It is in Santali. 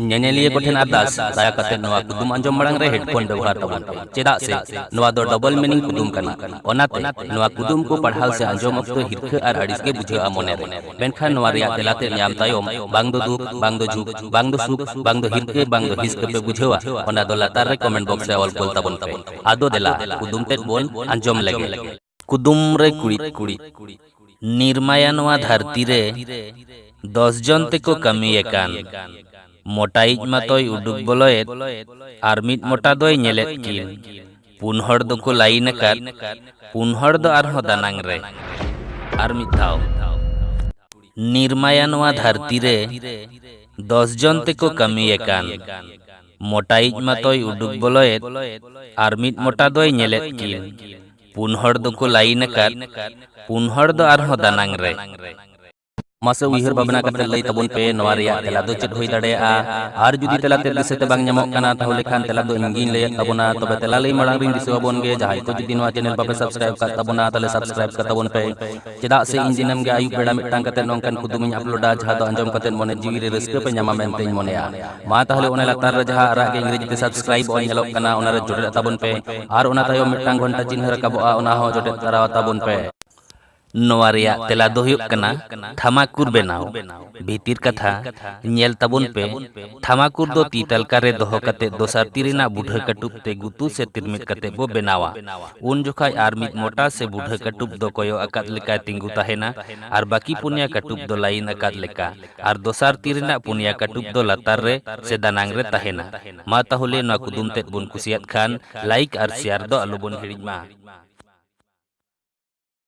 ᱧᱮᱧᱮᱞᱤᱭᱟᱹ ᱠᱚᱴᱷᱮᱱ ᱟᱨᱫᱟᱥ ᱫᱟᱭᱟ ᱠᱟᱛᱮ ᱱᱚᱣᱟ ᱠᱩᱫᱩᱢ ᱟᱸᱡᱚᱢ ᱢᱟᱲᱟᱝ ᱨᱮ ᱦᱮᱰᱯᱷᱳᱱ ᱵᱮᱵᱚᱦᱟᱨ ᱛᱟᱵᱚᱱ ᱯᱮ ᱪᱮᱫᱟᱜ ᱥᱮ ᱱᱚᱣᱟ ᱫᱚ ᱰᱚᱵᱚᱞ ᱢᱤᱱᱤᱝ ᱠᱩᱫᱩᱢ ᱠᱟᱱᱟ ᱚᱱᱟᱛᱮ ᱱᱚᱣᱟ ᱠᱩᱫᱩᱢ ᱠᱚ ᱯᱟᱲᱦᱟᱣ ᱥᱮ ᱟᱸᱡᱚᱢ ᱚᱠᱛᱚ ᱦᱤᱨᱠᱷᱟᱹ ᱟᱨ ᱟᱹᱲᱤᱥ ᱜᱮ ᱵᱩᱡᱷᱟᱹᱜᱼᱟ ᱢᱚᱱᱮ ᱨᱮ ᱢᱮᱱᱠᱷᱟᱱ ᱱᱚᱣᱟ ᱨᱮᱭᱟᱜ ᱛᱮᱞᱟ ᱛᱮ ᱧᱟᱢ ᱛᱟᱭᱚᱢ ᱵᱟᱝ ᱫᱚ ᱫᱩᱠ ᱵᱟᱝ ᱫᱚ ᱡᱷᱩᱠ ᱵᱟᱝ ᱫᱚ ᱥᱩᱠ ᱵᱟᱝ ᱫᱚ ᱦᱤᱨᱠᱷᱟᱹ ᱵᱟᱝ ᱫᱚ ᱦᱤᱥᱠᱟᱹ ᱯᱮ ᱵᱩᱡᱷᱟᱹᱣᱟ ᱚᱱᱟ ᱫᱚ ᱞᱟᱛᱟᱨ ᱨᱮ ᱠᱚᱢᱮᱱᱴ ᱵᱚᱠᱥ ᱨᱮ ᱚᱞ ᱠᱚᱞ ᱛᱟᱵᱚᱱ ᱯᱮ ᱟᱫᱚ ᱫᱮᱞᱟ ᱠᱩᱫᱩᱢ ᱛᱮᱫ ᱵᱚᱱ ᱟᱸᱡᱚᱢ ᱞᱮᱜᱮ ᱠᱩᱫᱩᱢ ᱨᱮ ᱠᱩᱲᱤᱫ ᱠᱩᱲᱤᱫ ᱱᱤᱨᱢᱟᱭᱟ ᱱᱚᱣᱟ ᱫᱷᱟᱹᱨᱛᱤ ᱨᱮ ᱫᱚᱥ ᱡᱚᱱ ᱛᱮᱠᱚ ᱠᱟᱹᱢᱤᱭᱮ ᱠᱟᱱ ᱢᱚᱴᱟᱭᱤᱡ ᱢᱟᱛᱚᱭ ᱩᱰᱩᱠ ᱵᱚᱞᱚᱭᱮᱫ ᱟᱨ ᱢᱤᱫ ᱢᱚᱴᱟ ᱫᱚᱭ ᱧᱮᱞᱮᱫ ᱠᱤᱱ ᱯᱩᱱ ᱦᱚᱲ ᱫᱚᱠᱚ ᱞᱟᱭᱤᱱ ᱟᱠᱟᱫ ᱯᱩᱱ ᱦᱚᱲ ᱫᱚ ᱟᱨᱦᱚᱸ ᱫᱟᱱᱟᱝ ᱨᱮ ᱟᱨ ᱢᱤᱫ ᱫᱷᱟᱣ ᱱᱤᱨᱢᱟᱭᱟ ᱱᱚᱣᱟ ᱫᱷᱟᱹᱨᱛᱤ ᱨᱮ ᱫᱚᱥ ᱡᱚᱱ ᱛᱮᱠᱚ ᱠᱟᱹᱢᱤᱭᱮ ᱠᱟᱱ ᱢᱚᱴᱟᱭᱤᱡ ᱢᱟᱛᱚᱭ ᱩᱰᱩᱠ ᱵᱚᱞᱚᱭᱮᱫ ᱟᱨ ᱢᱤᱫ ᱢᱚᱴᱟ ᱫᱚᱭ ᱧᱮᱞᱮᱫ ᱠᱤᱱ ᱯᱩᱱ ᱦᱚᱲ ᱫᱚᱠᱚ ᱞᱟᱭᱤᱱ ᱟᱠᱟᱫ ᱯᱩᱱ ᱦᱚᱲ ᱫᱚ ᱟᱨᱦᱚᱸ ᱫᱟᱱᱟᱝ ᱨᱮ ᱢᱟᱥᱮ ᱩᱭᱦᱟᱹᱨ ᱵᱷᱟᱵᱽᱱᱟ ᱠᱟᱛᱮ ᱞᱟᱹᱭ ᱛᱟᱵᱚᱱ ᱯᱮ ᱱᱚᱣᱟ ᱨᱮᱭᱟᱜ ᱛᱮᱞᱟ ᱫᱚ ᱪᱮᱫ ᱦᱩᱭ ᱫᱟᱲᱮᱭᱟᱜᱼᱟ ᱟᱨ ᱡᱩᱫᱤ ᱛᱮᱞᱟ ᱛᱮ ᱫᱤᱥᱟᱹ ᱛᱮ ᱵᱟᱝ ᱧᱟᱢᱚᱜ ᱠᱟᱱᱟ ᱛᱟᱦᱚᱞᱮ ᱠᱷᱟᱱ ᱛᱮᱞᱟ ᱫᱚ ᱤᱧ ᱜᱤᱧ ᱞᱟᱹᱭᱮᱫ ᱛᱟᱵᱚᱱᱟ ᱛᱚᱵᱮ ᱛᱮᱞᱟ ᱞᱟᱹᱭ ᱢᱟᱲᱟᱝ ᱨᱤᱧ ᱫᱤᱥᱟᱹ ᱟᱵᱚᱱ ᱜᱮ ᱡᱟᱦᱟᱸᱭ ᱠᱚ ᱡᱩᱫᱤ ᱱᱚᱣᱟ ᱪᱮᱱᱮᱞ ᱵᱟᱯᱮ ᱥᱟᱵᱥᱠᱨᱟᱭᱤᱵ ᱠᱟᱜ ᱛᱟᱵᱚᱱᱟ ᱛᱟᱦᱚᱞᱮ ᱥᱟᱵᱥᱠᱨᱟᱭᱤᱵ ᱠᱟᱛᱟᱵᱚᱱ ᱯᱮ ᱪᱮᱫᱟᱜ ᱥᱮ ᱤᱧ ᱫᱤᱱᱟᱹᱢ ᱜᱮ ᱟᱹᱭᱩᱵ ᱵᱮᱲᱟ ᱢᱤᱫᱴᱟᱝ ᱠᱟᱛᱮ ᱱᱚᱝᱠᱟᱱ ᱠᱩᱫᱩᱢ ᱤᱧ ᱟᱯᱞᱳᱰᱟ ᱡᱟᱦᱟᱸ ᱫᱚ ᱟᱸᱡᱚᱢ ᱠᱟᱛᱮ ᱢᱚᱱᱮ ᱡᱤᱣᱤ ᱨᱮ ᱨᱟᱹᱥᱠᱟᱹ ᱯᱮ ᱧᱟᱢᱟ ᱢᱮᱱᱛᱮᱧ ᱢᱚᱱᱮᱭᱟ ᱢᱟ ᱛᱟᱦᱞᱮ ᱚᱱᱟ ᱞᱟᱛᱟᱨ ᱨᱮ ᱡᱟᱦᱟᱸ ᱟᱨᱟᱜ ᱜᱮ ᱤᱝᱨᱮᱡᱤ ᱛᱮ ᱥᱟᱵᱥᱠᱨᱟᱭᱤᱵ ᱚᱞ ᱧᱮᱞᱚᱜ ᱠᱟᱱᱟ ᱚᱱᱟ ᱨᱮ ᱡᱚᱴᱮᱫ ᱛᱟᱵᱚᱱ ᱯᱮ ᱟᱨ ᱚᱱᱟ ᱛᱟᱭᱚᱢ ᱢᱤᱫᱴᱟᱝ ᱜᱷᱚᱱᱴᱟ ᱪᱤᱱᱦᱟᱹ ᱨᱟᱠᱟᱵᱚᱜᱼᱟ ᱚᱱᱟ ᱦᱚᱸ ᱡᱚᱴᱮᱫ ᱛᱟᱨᱟ ᱛᱟᱵᱚᱱ ᱯᱮ ᱱᱚᱣᱟ ᱨᱮᱭᱟᱜ ᱛᱮᱞᱟ ᱫᱚ ᱦᱩᱭᱩᱜ ᱠᱟᱱᱟ ᱴᱷᱟᱢᱟᱠᱩᱨ ᱵᱮᱱᱟᱣ ᱵᱷᱤᱛᱤᱨ ᱠᱟᱛᱷᱟ ᱧᱮᱞ ᱛᱟᱵᱚᱱ ᱯᱮ ᱛᱷᱟᱢᱟᱠᱩᱨ ᱫᱚ ᱛᱤ ᱛᱟᱞᱠᱟ ᱨᱮ ᱫᱚᱦᱚ ᱠᱟᱛᱮ ᱫᱚᱥᱟᱨ ᱛᱤ ᱨᱮᱱᱟᱜ ᱵᱩᱰᱷᱟᱹ ᱠᱟᱹᱴᱩᱵ ᱛᱮ ᱜᱩᱛᱩ ᱥᱮ ᱛᱤᱨᱢᱤᱫ ᱠᱟᱛᱮ ᱵᱚ ᱵᱮᱱᱟᱣᱟ ᱩᱱ ᱡᱚᱠᱷᱟᱡ ᱟᱨ ᱢᱤᱫ ᱢᱚᱴᱟ ᱥᱮ ᱵᱩᱰᱷᱟᱹ ᱠᱟᱹᱴᱩᱵ ᱫᱚ ᱠᱚᱭᱚᱜ ᱟᱠᱟᱫ ᱞᱮᱠᱟᱭ ᱛᱤᱸᱜᱩ ᱛᱟᱦᱮᱱᱟ ᱟᱨ ᱵᱟᱹᱠᱤ ᱯᱩᱱᱭᱟ ᱠᱟᱹᱴᱩᱵ ᱫᱚ ᱞᱟᱭᱤᱱ ᱟᱠᱟᱫ ᱞᱮᱠᱟ ᱟᱨ ᱫᱚᱥᱟᱨ ᱛᱤ ᱨᱮᱱᱟᱜ ᱯᱩᱱᱭᱟ ᱠᱟᱹᱴᱩᱵ ᱫᱚ ᱞᱟᱛᱟᱨ ᱨᱮ ᱥᱮ ᱫᱟᱱᱟᱝ ᱨᱮ ᱛᱟᱦᱮᱱᱟ ᱢᱟ ᱛᱟᱦᱚᱞᱮ ᱱᱚᱣᱟ ᱠᱩᱫᱩᱢ ᱛᱮᱫ ᱵᱚᱱ ᱠᱩᱥᱤᱭᱟᱫ ᱠᱷᱟᱱ ᱞᱟᱭᱤᱠ ᱟᱨ ᱥᱮᱭᱟᱨ ᱫᱚ ᱟᱞᱚ ᱵᱚᱱ ᱦᱤᱲᱤᱧ ᱢᱟ᱾